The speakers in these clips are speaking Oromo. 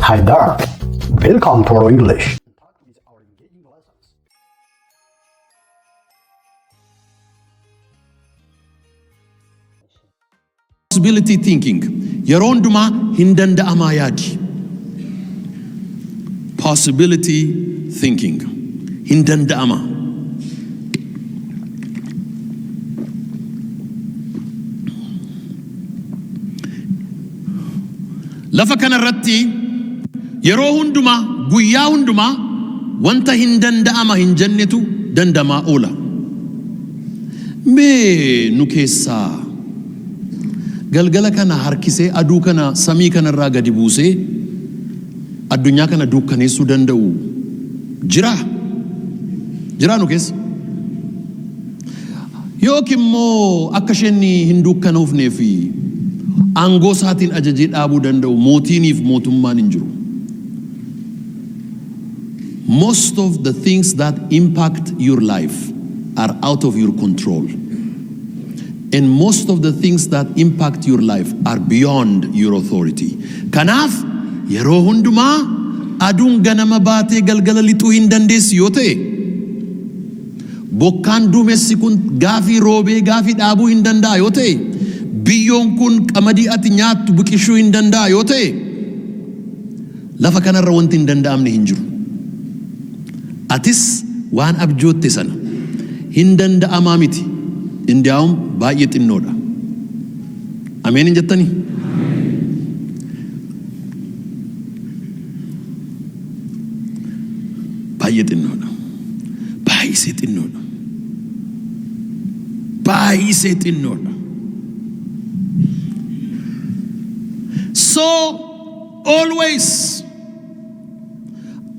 Hi there. Welcome to our English. possibility thinking yeroo hundumaa hin danda'amaa yaadi possibility thinking hin danda'ama Lafa kana irratti yeroo hundumaa, guyyaa hundumaa wanta hin danda'ama hin jennetu dandamaa oola. Mee nu keessaa galgala kana harkisee aduu kana samii kana irraa gadi buusee addunyaa kana duukkaneessuu danda'u jiraa? Jiraa nu keessa? Yookiin immoo akka isheen hin duukkanoofnee fi aangoo isaatiin ajajee dhaabuu danda'u mootiinii fi mootummaan hin jiru. Most of the things that impact your life are out of your control. And most of the things that impact your life are beyond your authority. Kanaaf yeroo hundumaa aduun ganama baatee galgala lixuu hin dandeessi yoo ta'e Bokkaan duumessi kun gaafii roobee gaafii dhaabuu hin danda'a yoo ta'e, biyyoon kun qamadii ati nyaattu biqishuu hin danda'a yoo ta'e, lafa kana irra wanti hin danda'amne hin jiru. Atis waan abjootte sana hin danda'amaa miti, indiyaawum baay'ee xinnoodha. Ameen hin jettanii? Baay'ee xinnoodha. Baay'isee xinnoodha. Baay'isee xinnoodha. So always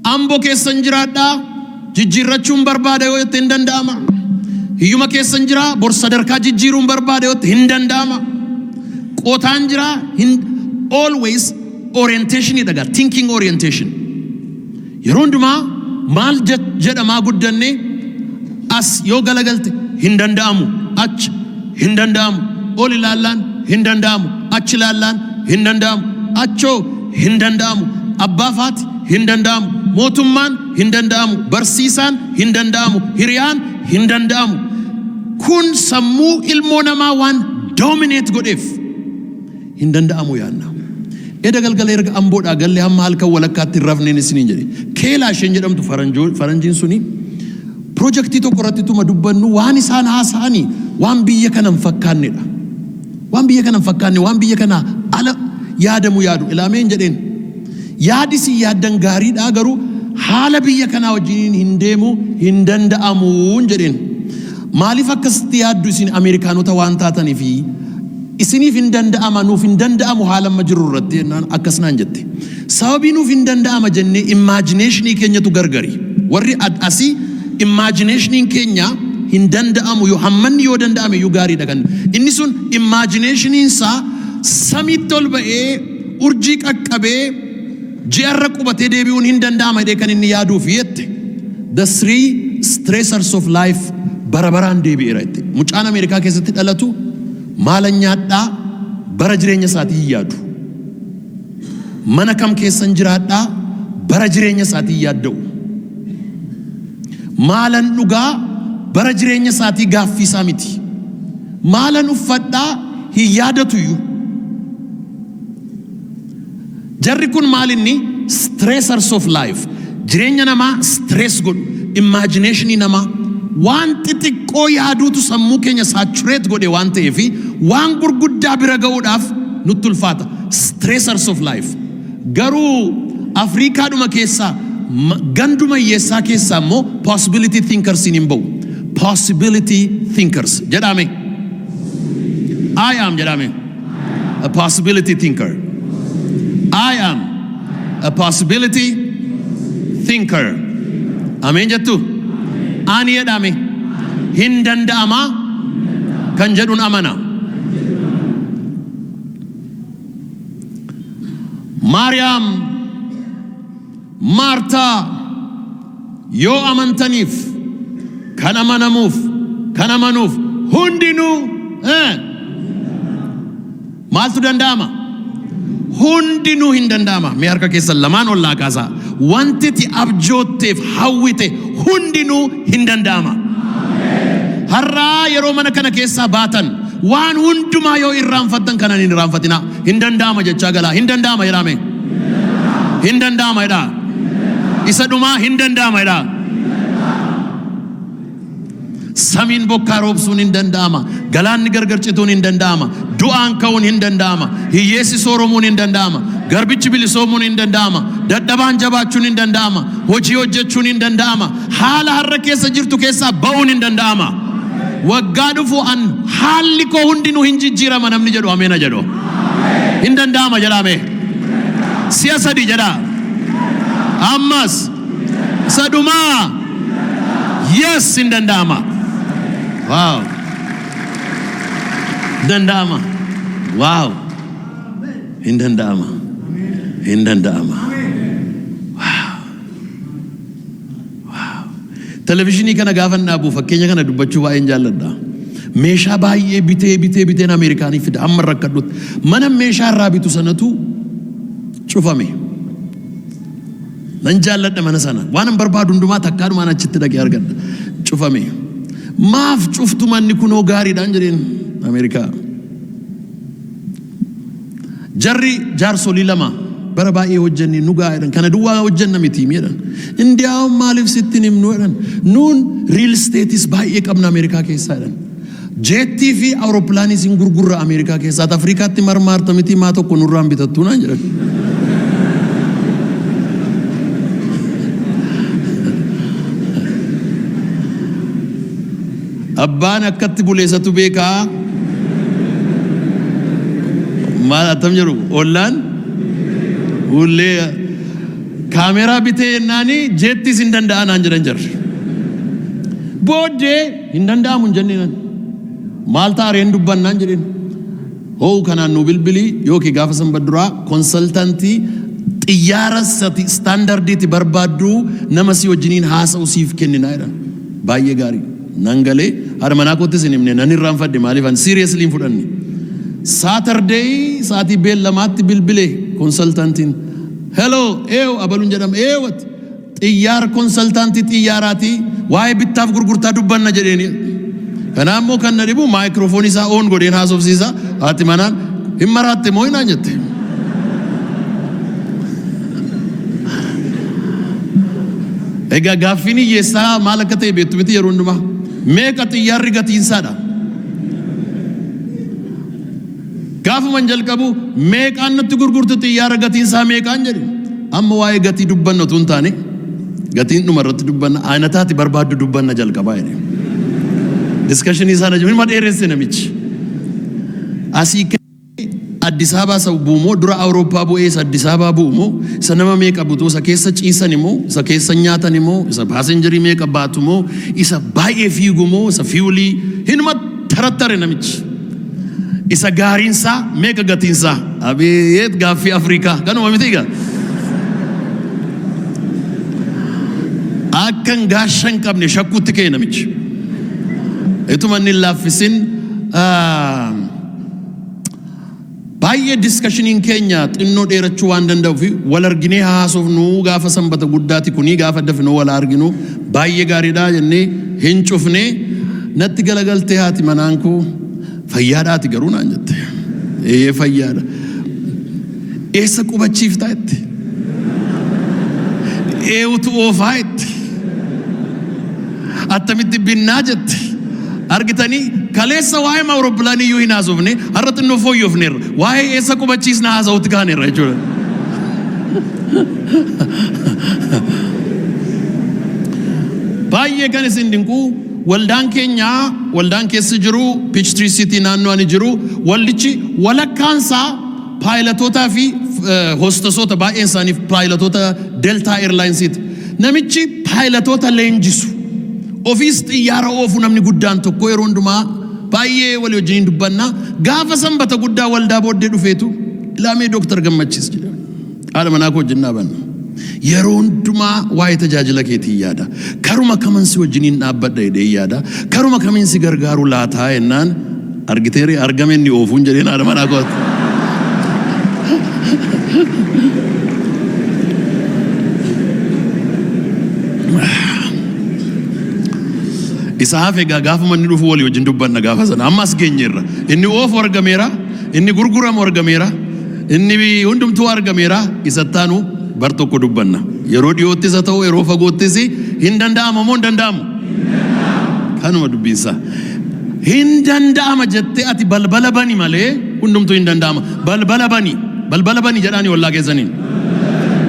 ambo keessan jiraadhaa jijjiirrachuun barbaada yoo jette hin danda'ama. Hiyyuma keessan jiraa bor sadarkaa jijjiiruun barbaada yoo jette hin danda'ama. Qotaan jiraa hin always orientation dha gaa thinking orientation yeroo hundumaa maal je- jedhamaa guddanne as yoo galagalte hin danda'amu achi hin danda'amu ol ilaallaan hin danda'amu achi ilaallaan hin danda'amu achoo hin danda'amu abbaa faati hin danda'amu mootummaan hin danda'amu barsiisaan hin danda'amu hiriyaan hin danda'amu kun sammuu ilmoo namaa waan doomineet godheef hin danda'amu yaadna. Eda galgala erga Amboodhaa galle hamma halkan walakkaatti hin rafneen isiniin jedhe. Keelaa isheen jedhamtu faranjoo faranjiin suni pirojektii tokko irratti tuma dubbannu waan isaan haasa'ani waan biyya kana hin fakkaannedha. Waan biyya kana hin fakkaanne waan biyya kanaa ala yaadamu yaadu ilaameen jedheen. Yaadi isin yaaddan gaariidhaa garuu haala biyya kanaa wajjiniin hin deemu hin danda'amuun jedheen. Maaliif akkasitti yaaddu isin Ameerikaanota waan taatanifi? Isiniif hin danda'ama, nuuf hin danda'amu haala amma jirru irratti jennaan akkas naan jette. Sababii nuuf hin danda'ama jennee imaajineeshinii keenyatu gargari. Warri ad asii imaajineeshiniin keenya hin danda'amu yoo hammanni yoo danda'ame iyyuu gaariidha kan inni sun imaajineeshiniin isaa samiitti ol ba'ee urjii qaqqabee Ji'a irra qubatee deebi'uun hin danda'ama jedhee kan inni yaaduuf jette The Three Stressors of Life bara baraan deebi'eera jette. Mucaan Ameerikaa keessatti dhalatu maalan nyaadhaa bara jireenya isaatii hin yaadu. Mana kam keessan jiraadhaa bara jireenya isaatii hin yaadda'u. Maalan dhugaa bara jireenya isaatii gaaffii isaa miti. Maalan uffadhaa hin yaadatuyyu. Jarri kun maal inni stressors of life jireenya namaa stress godhu imagination namaa waan xixiqqoo yaaduutu sammuu keenya saturate godhe waan ta'eef waan gurguddaa bira ga'uudhaaf nutti ulfaata stressors of life garuu Afriikaadhuma keessaa ma- ganduma hiyyeessaa keessaa immoo possibility thinkers hin ba'u possibility thinkers jedhaame I am jedhaame. a possibility thinker. I am a possibility thinker. Ameen jettu? Ani jedhame hin danda'ama kan jedhun amana. Maariyaam Maartaa, Yoo amantaniif, kan amanamuuf, kan amanuuf hundinuu eh, maaltu danda'ama? Hundinuu hin danda'ama. Mee harka keessan lamaan ol naa kaasaa. Wanti ati abjootteef hawwite hundinuu hin danda'ama. Har'aa yeroo mana kana keessaa baatan waan hundumaa yoo irraanfattan kanan hin irraanfatinaa. Hin danda'ama jechaa galaa. Hin danda'ama jedhaa mee. Hin danda'ama jedhaa. Isa dhumaa hin danda'ama jedhaa. Samiin bokkaa roobsuun hin danda'ama. Galaanni gargar cituun hin danda'ama. Du'aan ka'uun hin danda'ama. Hiyyeessi sooromuun hin danda'ama. Garbichi bilisoomuun hin danda'ama. Dadhabaan jabaachuun hin danda'ama. Hojii hojjechuun hin danda'ama. Haala har'a keessa jirtu keessaa ba'uun hin danda'ama. Waggaa dhufu an haalli koo hundinuu hin jijjiirama namni jedhu ameena jedhu. Hin danda'ama jedhaa mee. Si'a sadii jedhaa. Ammas isa dhumaa. Yes hin danda'ama. Waaw. Hin danda'ama. Waaw. Hin danda'ama. Hin danda'ama. Televizyinii kana gaafan dhaabu fakkeenya kana dubbachuu baay'een jaalladha. Meeshaa baay'ee bitee bitee biteen Ameerikaanii fida hamma rakkadhutti. Mana meeshaa irraa bitu sanatu cufame. Nan jaalladha mana sana. Waan hin barbaadu hundumaa takkaadhumaan achitti dhaqee argadha. Cufame. Maaf cuftu manni kunoo gaariidhaan jedheen Ameerikaa. Jarri jaarsolii lama bara baay'ee hojjennee nu ga'a jedhan. Kana duwwaa hojjenna miti mi jedhan. Indiyaawwan maaliif sitti hin himnu jedhan. Nuun riil isteetis baay'ee qabna Ameerikaa keessaa jedhan. Jeettii fi awurooppilaaniis hin gurgurra Ameerikaa keessaa. Ati Afrikaatti marmaarta miti maa tokko nurraan bitattuu naan jedhan. Abbaan akkatti bule isatu beeka maal attam jedhu ollaan hullee kaameeraa bitee jennaani jeettis hin danda'a naan jedhan jarri. Booddee hin danda'amu hin jenneenan maal ta'a reen dubbannaan jedheen. Hoo kanaan nuu bilbili yooki gaafa sanbat duraa konsaltanti xiyyaara sati standardiiti barbaaddu nama si wajjiniin haasa'u siif kennina jedhan. Baay'ee gaarii. Nan galee haadha manaa koottis hin himne nan irraanfadhe maaliif ani seriously hin fudhanne. Saturday sa'atii beellamaatti bilbile konsaltantiin. Hello eew abalun jedhama eew ati Xiyyaar konsaltaantii xiyyaaraati waa'ee bittaaf gurgurtaa dubbanna jedheeniin. Kanaa immoo kan na dhibu maayikiroofoonii isaa oon godheen haasofsiisa haati manaan hin maraatte moo naan jette. Egaa gaaffiin hiyyeessaa maal akka ta'e beektu miti yeroo hundumaa meeqa xiyyaarri gatiinsaadha. Gaafuman jalqabu meeqaan nutti gurgurtu xiyyaara gatiin isaa meeqaan jedhe. Amma waa'ee gatii dubbanna utuu hin taane gatiin dhuma irratti dubbanna ayinataa ati barbaaddu dubbanna jalqabaa jedhe. Diskashinii isaa na jiru ma dheeresse namichi. Asii ka'ee Addis Ababaa isa bu'u moo dura Awurooppaa bu'ee isa Addis Ababaa bu'u moo isa nama meeqa butu isa keessa ciisan moo isa keessa nyaatan moo isa paasenjarii meeqa baatu moo isa baay'ee fiigu moo isa fiiwulii hinuma Tarattare namichi. Isa gaariinsaa meeqa gatiinsaa? Abeet gaaffii Afrikaa kanuma miti egaa. Akkan gaasha hin qabne shakkuutti ka'e namichi. Ituma inni hin laaffisin ah, Baay'ee discussionin keenya xinnoo dheerachuu waan danda'ufi wal arginee haa haasofnuu gaafa sanbata guddaati kunii gaafa dafnoo wal haa arginuu baay'ee gaariidha jennee hin cufnee natti galagaltee haati manaan koo fayyaadha ati garuu naan jette eeyyee fayyaadha eessa qubachiiftaa itti eewutu oofaa itti Attamitti binnaa jette. Argitanii kaleessa waa'ee awuroppilaanii iyyuu hin haasofne har'a xinnoo fooyyofneerra. Waa'ee eessa qubachiisna haasa'utti kaaneerra jechuudha. Baay'ee kan isin dinqu waldaan keenya waldaan keessa jiru Peachtree City naannoo ani jiru waldichi walakkaan isaa paayilatootaa fi hostasoota baay'een isaaniif paayilatota Delta Airlines'iti. Namichi paayilatoota leenjisu, ofiis xiyyaara oofu namni guddaan tokko yeroo hundumaa baay'ee walii wajjiniin dubbanna. Gaafa sanbata guddaa waldaa booddee dhufeetu ilaamee Dooktar Gammachiis jedha. Haadha manaa koo wajjin dhaabanna. Yeroo hundumaa waa'ee tajaajila keetiin yaada. Karuma kaman si wajjiniin dhaabbadha jedhee yaada. Karuma kamiin si gargaaru laataa jennaan Argitee ree argame inni oofuun jedheen haadha manaa kootti. Isa hafe egaa gaafuma inni dhufu walii wajjin dubbanna gaafa sana amma as geenyeerra. Inni oofu argameera, inni gurguramu argameera, inni hundumtuu argameera isa ittaanu bar tokko dubbanna. Yeroo dhiyoottis haa ta'u yeroo fagoottis hin danda'ama moo hin danda'amu? Kanuma dubbiinsaa. Hin danda'ama jettee ati balbala bani malee hundumtuu hin danda'ama. Balbala bani. Balbala bani jedhaani ollaa keessaniin.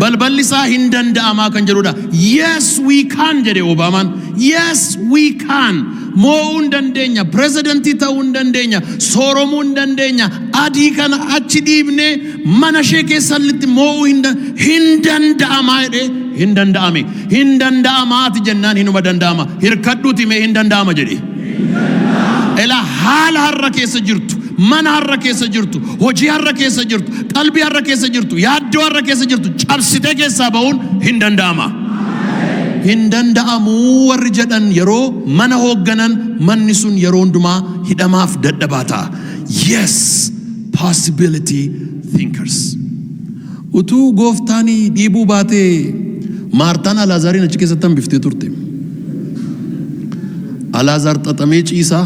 Balballi isaa hin danda'amaa kan jedhudha. Yes we can jedhe Obaamaan. Yes we can. Moo'uu hin dandeenya. Pirezidantii ta'uu hin dandeenya. Sooromuu hin dandeenya. Adii kana achi dhiibnee mana ishee keessallitti moo'uu hin da- hin danda'amaa jedhe hin danda'ame. Hin danda'amaa ati jennaan hinuma danda'ama. Hirkadhuuti mee hin danda'ama jedhe. Ela haala har'a keessa jirtu, mana har'a keessa jirtu, hojii har'a keessa jirtu, qalbii har'a keessa jirtu, yaaddoo har'a keessa jirtu cabsitee keessaa ba'uun hin danda'ama. Hin danda'amuu warri jedhan yeroo mana hoogganan manni sun yeroo hundumaa hidhamaaf dadhabaa ta'a. Yes, possibility thinkers. Utuu Gooftaan dhiibuu baatee Maartaan Alaazaariin achi keessatti hambiftee turte. Alaazaar xaxamee ciisaa,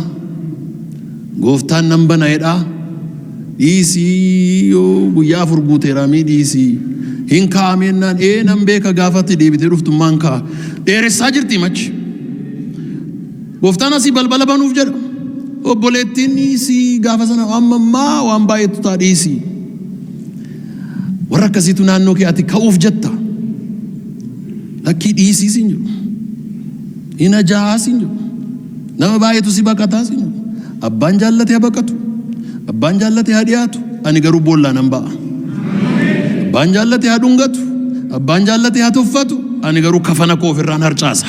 Gooftaan nan bana jedhaa, dhiisii yoo guyyaa afur guuteeraa mii dhiisii, hin kaa'ameennaan ee nan beeka gaafa ati deebitee dhuftummaan ka'a. Dheeressaa jirti machi. Gooftaan asii balbala banuuf jedha. Obboleettiin dhiisii gaafa sana amma ammaa waan baay'eetu ta'a dhiisii. Warra akkasiitu naannoo kee ati ka'uuf jetta. Lakkii dhiisii siin jedhu. Hin ajaa'aa siin jedhu. Nama baay'eetu si baqataa siin jedhu. Abbaan jaallate haa baqatu. Abbaan jaallate haa dhiyaatu. Ani garuu boollaa nan ba'a. Abbaan jaallate haa dhungatu. Abbaan jaallate haa tuffatu. Ani garuu kafana koo ofirraan harcaasa.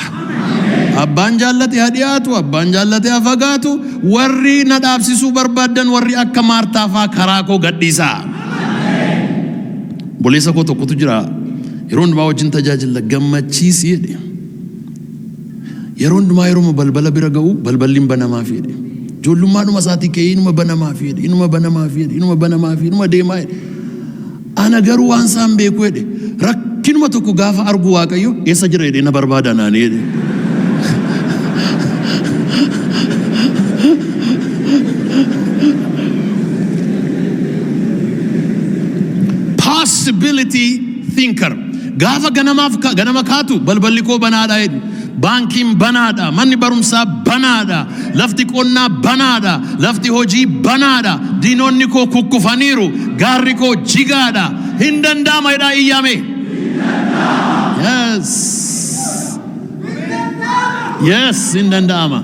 Abbaan jaallate haa dhiyaatu. Abbaan jaallate haa fagaatu. Warri na dhaabsisuu barbaaddan warri akka Maartaa faa karaa koo gadhiisaa. Obboleessa koo tokkotu jira yeroo hundumaa wajjin tajaajila gammachiisi jedhe. Yeroo hundumaa yeroo balbala bira ga'u balballi hin banamaaf jedhe. Ijoollummaadhuma isaatii ka'ee inuma banamaaf jedhe inuma banamaaf jedhe inuma banamaaf jedhe inuma deemaa jedhe. Ana garuu waan isaa hin beeku jedhe. Rakkinuma tokko gaafa argu Waaqayyo eessa jira jedhee na barbaada naani jedhe. Possibility thinker. Gaafa ganamaaf ka- ganama kaatu balballi koo banaadha jedhe. Baankiin banaadha, manni barumsaa banaadha, lafti qonnaa banaadha, lafti hojii banaadha, diinonni koo kukkufaniiru, gaarri koo jigaadha, hin danda'ama jedhaa iyyaamee. Yes. Yes, hin danda'ama.